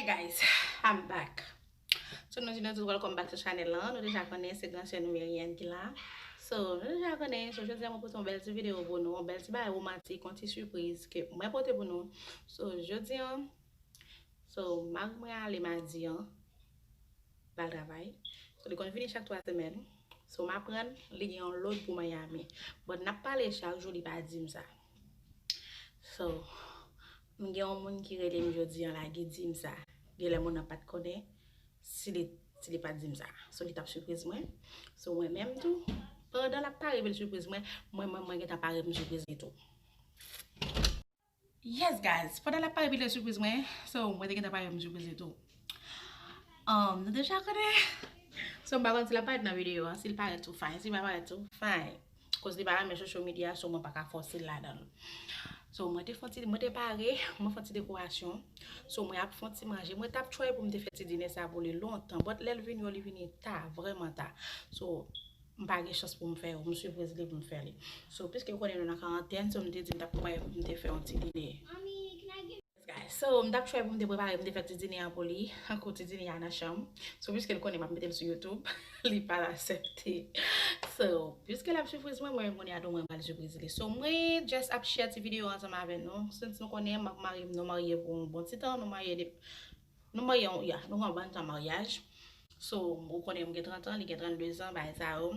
Hey guys I'm back So nou di nou tout welcome back to channel lan Nou deja konnen se gran sè nou Merienne ki la So nou deja konnen So jodi a mwen pote yon bèl ti video pou nou Yon bèl ti bagay romantik Yon ti surprise ke mwen pote pou nou So jodi an So mari mwen ale madi an Pou al travay So li konn vini chak 3 semèn So m aprann li gen yon lòd pou Miami But nap pale chak jou li pa di m sa So m gen yon moun ki rele m jodi an la ki di m sa Genlè moun nan pat konnen si li pat di m sa So li tap sipriz mwen So mwen menm tou pandan lap pare pou l sipriz mwen Mwen menm mwen gentan pare pou m sipriz li tou. Yes guys pandan lap pale pi de surprise mwen so mwen te gentan pale yon surprise li tou Umm nou deja konnen So m pa konn si lap parèt nan video an sil parèt tou fine sil pa parèt tou fine koz li pa renmen social media so mwen paka fòsel ladanl So mwen te fon ti mwen te pare mwen fon ti dekorasyon So mwen ap fon ti manje mwen tap try poum te fè ti dine sa pou li lontan but lèl vini yo li vini ta vrèman ta So M pa gen chans pou m fè yo. M swiv rezile pou m fè li. So, piske m konnen nou nan karantèn, so m te di m t ap kwè pou m te fè yon ti dine. So, m t ap chwè pou m te prepare, m te fè ti dine an pou li. Tankou ti dine a nan chanm. So, piske l konnen m ap mete l sou YouTube, li pa al asèpte. So, piske l ap sipriz mwen, mwen menm kounye a tou mwen pral sipriz li. So, mwen just ap share ti videyo ansanm avè nou. Since nou konnen m ak mari m nou marye pou yon bon ti tan, nou marye depi. Nou marye yon ya nou pran bann tan maryaj so ou konnen mwen gen 30 ans li gen 32 ans bagay sa yo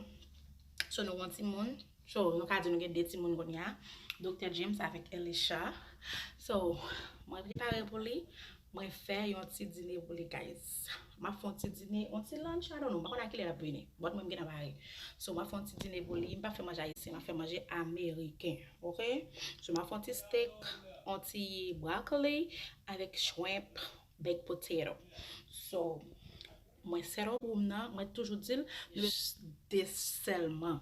so nou gon timoun so nou ka di nou gen 2 timoun kounya Doktè James avèk Elisha so mwen prepare pou li mwen fè yon ti dine pou li guys map fè yon ti dine yon ti lunch I don't know m pa konn a kilè lap vini but mwen m gentan pare so map fè yon ti dine pou li m pap fè manje ayisyen map fè manje ameriken ok so map fè yon ti steak yon ti broccoli Avèk shrimp, baked potato. So mwen set up room nan, mwen toujou di l nou bezwen just 2 sèlman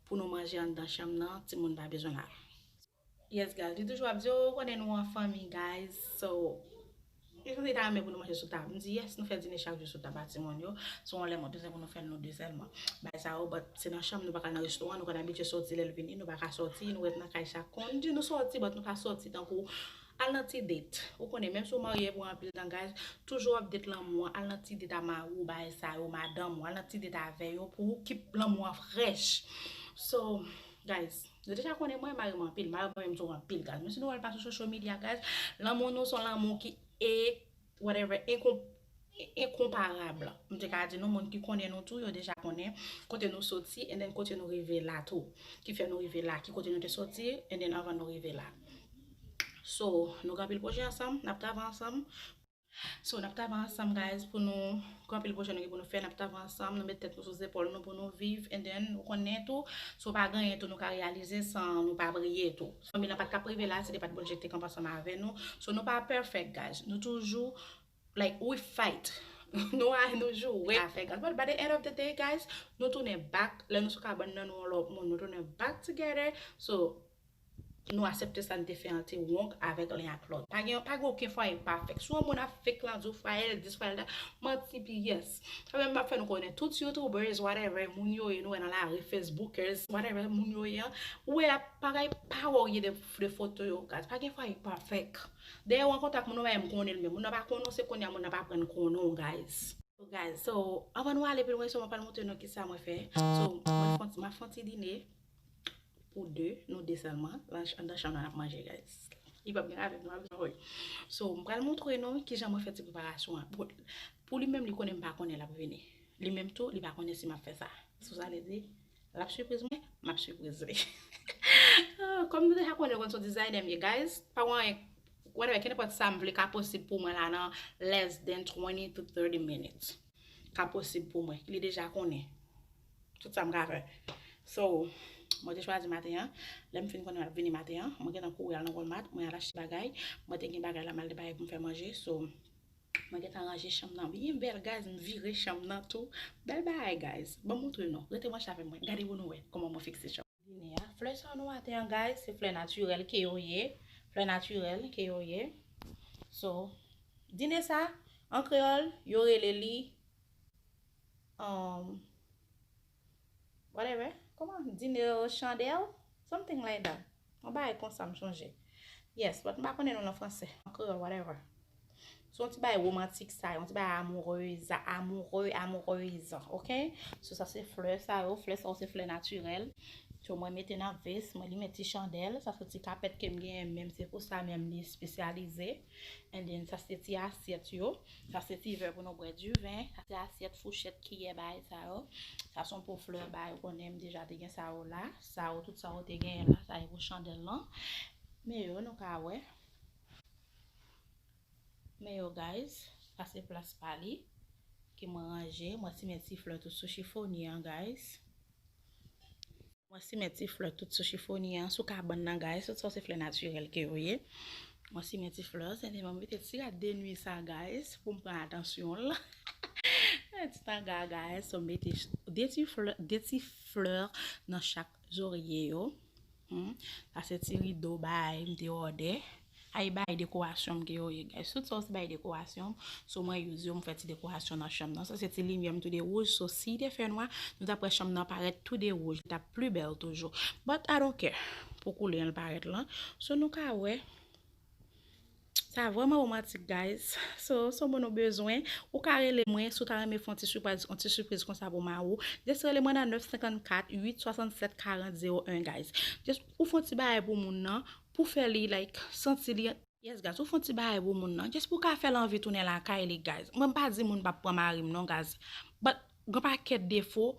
pou nou manje anndan chanm nan, timoun pa bezwen la. Yes guys, li toujou ap di oh ou konnen nou an fanmi guys so li sanble li ta renmen pou nou manje sou tab. M di yes nou fè dine chak jou sou tab a timoun yo, so yon lè mwen bezwen pou nou fè l nou 2 sèlman. Bagay sa yo but se nan chanm nou pa ka al nan restoran, nou konn abitye soti lè l vini nou pa ka soti, nou ret nan kay sa konn di nou soti but nou pa soti tankou Al nan ti date. Ou konnen menm si ou marye epi ou anpil langaj, toujou wap date lanmou an, al nan ti date a mari ou bagay sa yo, madanm ou, al nan ti date avè yo pou ou keep lanmou an fresh. So guys, nou deja konnen mwen mare mwen anpil, mare mwen menm tou anpil guys. Menm si nou wèl pa sou social media guys, lanmou nou son lanmou ki e whatever enkonp. enkonparab, m te ka di nou moun ki konnen nou tou yo deja konnen kote nou soti and then kote nou rive la tou, ki fè nou rive la, ki kote nou te soti and then anvan nou rive la. So, nou gen anpil pwojè ansanm, n ap travay ansanm. So, n ap travay ansanm guys pou nou, gen anpil pwojè nou gen pou nou fè, n ap travay ansanm, nou met tèt nou sou zepòl nou pou nou viv and then ou konnen tou, si w pa gen anyen tou nou ka reyalize san nou pa priye tou. Fanmi lan pa t ka rive la si te pa t Bondye ki te kanpe ansanm avè nou. So, nou pa perfect guys, nou toujou. Like we fight Nou anh nou joure afè gaz but by the end of the day guys nou tounen back lè nou sou kabann nan nou yon lòt moun nou tounen back together so nou asepte sa nou te fè an te wrong avèk len ak lòt pa gen pa gen oken fwaye pafèk si yon moun ap fake lan diw fwayel dis fwayel dat manti pi yes sa menm map fè nou konnen tout youtubers whatever moun yo ye nou wè nan lari facebookers whatever moun yo ye an ou wè yap bagay pa wè ou gen de foto yo gaz pa gen fwaye pafèk. Dèyè ou an kontak moun ou pa m konnen l menm. Moun nan pa konnen w se kounya moun nan ap aprann konnen w guys. So guys, so anvan nou ale pi lwen so mwen pral montre nou kisa mwen fè. So mwen map fon ti dine pou 2, nou 2 sèlman andan chanm lan nap manje guys. Li pap gen avèk nou ap janm wè. So m pral montre nou kijan mwen fè ti preparasyon an. Pou li menm li konnen m pa konnen lap vini. Li menm tou li pa konnen si map fè sa. So sa vle di L ap sipriz mwen, m ap sipriz li. Kòm nou deja konnen yo konn son designer m ye guys, pa gen anyen, whatever, kenenpòt sa m vle ka posib pou mwen la nan less than 20 to 30 minutes. Ka posib pou mwen. Li deja konnen tout sa m ka fè. So, mwen te chwazi maten an, lè m fin konnen l ap vini maten an, mwen gentan kouri al nan Walmart, mwen al achte bagay. Mwen te gen bagay la m al gen bagay pou m fè manje. So, Mwen gentan ranje chanm nan byen bèl guys m vire chanm nan tou bèl bagay guys banm montre nou rete branche avèm mwen gade pou nou wè kòman mwen fikse chanm dine a flè sa nou wete an guys se flè naturèl ke yo ye flè naturèl ke yo ye so dine sa an kreyòl yo rele li Whatever, kòman? Dinero Chandel? Something like that. Yon bagay konsa m chonje. Yes, but m pa konnen non l an franse. An kreyòl, whatever. Se yon ti bagay womantik sa, yon ti bagay amoureusa, amoureux, amoureuse, ok? So sa se flè sa yo, flè sa yo se flè natirèl. So mwen mete nan vès mwen, li met ti chandèl. Sa se ti kapèt ke m genyen menm, se pou sa menm li espesyalize. And then sa se ti asyèt yo. Sa se ti vè pou nou bwè di ven. Sa se asyèt, fouchèt, kiyè, bagay sa yo. Sa son po flè bagay ou konnen m deja te gen sa yo la. Sa yo tout sa yo te genyen la. Sa e pou chandèl lan. Men yo nou ka wè. Men yo guys. Sa se plas pa li. Ke mwen ranje. Mwen simen ti flè tou sou chifonye an guys. Mwen simen ti flè tout sou chifonye an, sou kabann nan guys, tout sa se flè natirèl ke yo ye. Mwen simen ti flè an, se li mwen mete ti rad de nwi sa guys, pou m pran atansyon l. Yon ti tanga guys, so m mete de ti flè nan chak zorye yo. Humm sa se ti rido baay m te òdè Ay baay dekorasyon m ke yo ye guys tout sa yo se baay dekorasyon m so mwen use yo m fè ti dekorasyon nan chanm nan sa se ti limyè m tou 2 wouj so si te fè nwa nou tap wè chanm nan parèt tou 2 wouj li tap pli bèl toujou but I don't care pou koulè l parèt lan so nou ka wè Sa vrèman romantik guys. So son moun ou bezwen, ou ka rele mwen si w ta renmen fè yon ti siprize yon ti siprize konsa pou mari w. Just rele mwen nan 954 867 40 01 guys. Just ou fè yon ti bagay pou moun nan, pou fè li like santi li Yes guys, ou fè yon ti bagay pou moun nan, just pou w ka fè l anvi tounen lakay li guys. Mwen m pa di moun pa p pran mari m non guys, but. Gon pakèt defo,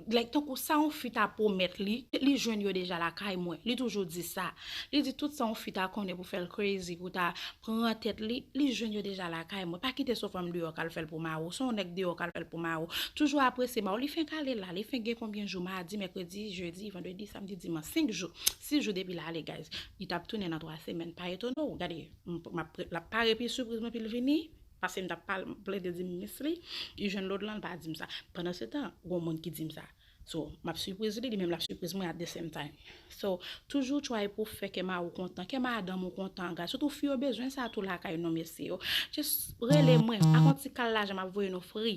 like tankou sa yon fi ta pwomèt li, li jwenn yo deja lakay mwen. Li toujou di sa. Li di tout sa yon fi ta konnen pou fè l crazy, pou ta pran tèt li, li jwenn yo deja lakay mwen. Pa kite son fanm deyò k al fè l pou mari w, son yon nèg deyò k al fè l pou mari w. Toujou apresye mari w. Li fenk ale la, li fenk gen konbyen jou, madi, mèkredi, jedi, vandredi, samdi, dimanch, senk jou, sis jou depi l ale guys. Li t ap tounen nan twa semèn. Pa etone w, gade, m ap, l ap pare pi sipriz mwen pi l vini. Pase m t ap plede di minis li, li jwenn lòd lan, li pa di m sa. Pandansetan, gon moun ki di m sa. So, m ap sipriz li, li menm l ap sipriz mwen at de sem time. So, toujou try pou fè kè mari w kontan, kè madanm ou kontan, gad. Sitou fi yo bezwen sa tou lakay nou mesye yo. Just rele mwen, ak yon ti kal lajan m ap voye nou free.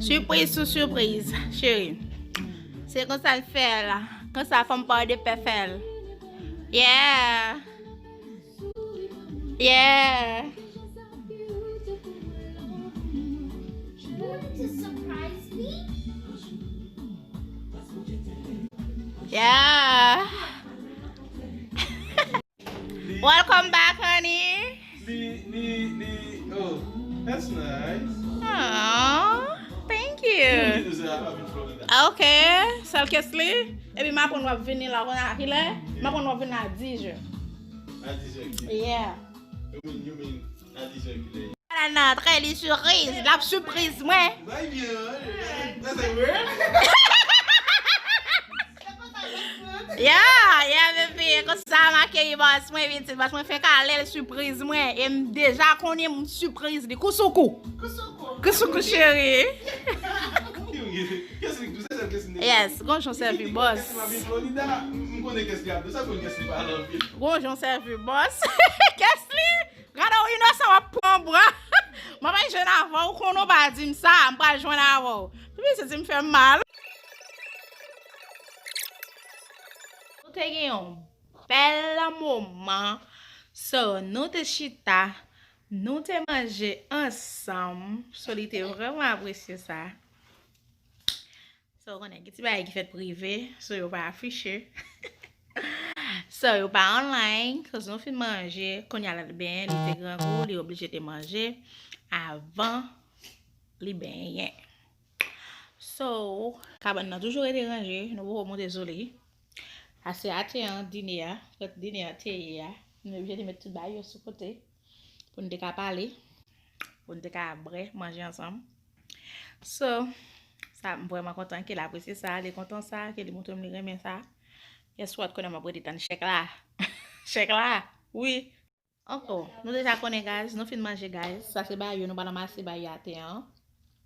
Surprise sou surprise chérie. Se konsa l fè la. Konsa fòm pa de pè fè l. Yeah. Yeah. Yeah. Welcome back honey. Li li li oh that's nice. Aww thank you. Ok sel kes li. Epi m aprann wap vini la kounye a kilè? M aprann wap vini a 10 je. A 10 je? Yeah. Ala nan antre li suriz. Lap sipriz mwen. Ya ya bebe konsa m akeyi bòs mwen pitit bòs mwen fenk ale l sipriz mwen e m deja konnen m sipriz li kou sou kou. Kou sou kou cheri. Yes, gon jon sèvi bòs. Gon jon sèvi bòs. Kès li? Gade w inosan wap pran bwa. Mwen pa jwenn avè w ou konnen w pa di m sa m pral jwenn avè w. Pi se di m fè m mal. Nou te gen yon bèl moman so nou te chita nou te manje ansanm so li te vrèman apresye sa. Sa ou konnen, gen ti bagay ki fèt prive, so yo pa afiche. So yo pa online, koz nou fin manje, konya lal benyen, li te grangou, li oblije te manje, avan li benyen. So, kabann nan toujou rete ranje, nou poko moute sou li. Ase ate an, dine a, kot dine a te ye a, nou oblije te met tout bagay yo sou kote. pou n te ka pale, pou n te ka bre, manje ansanm. So, sa m vreman kontan ke l apresye sa, li kontan sa, ke li montre m li renmen sa. Guess what, kounye a m ap rete tann chèk la. Chèk la, wi. Anko, nou deja konnen guys, nou fin manje guys. Sa se bayo, nou pral ranmase bayo ate an.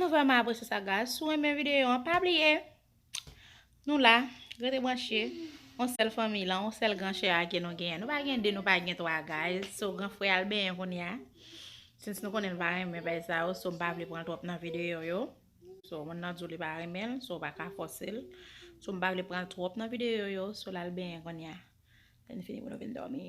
Nou vreman apresye sa guys. Si w renmen videyo an pa bliye nou la, rete branche. On sel fanmi la, on sel gran chè a ke nou genyen. Nou pa gen 2, nou pa gen 3 guys. So gran frè al benyen kounye a. Since nou konnen l pa renmen bay sa yo, so m pa vle pran l trop nan videyo yo. So moun nan di w li pa renmen l, so w pa ka fòse l. So m pa vle pran l trop nan videyo yo, so l al benyen kounye a. Lè n fini pou nou vin dòmi.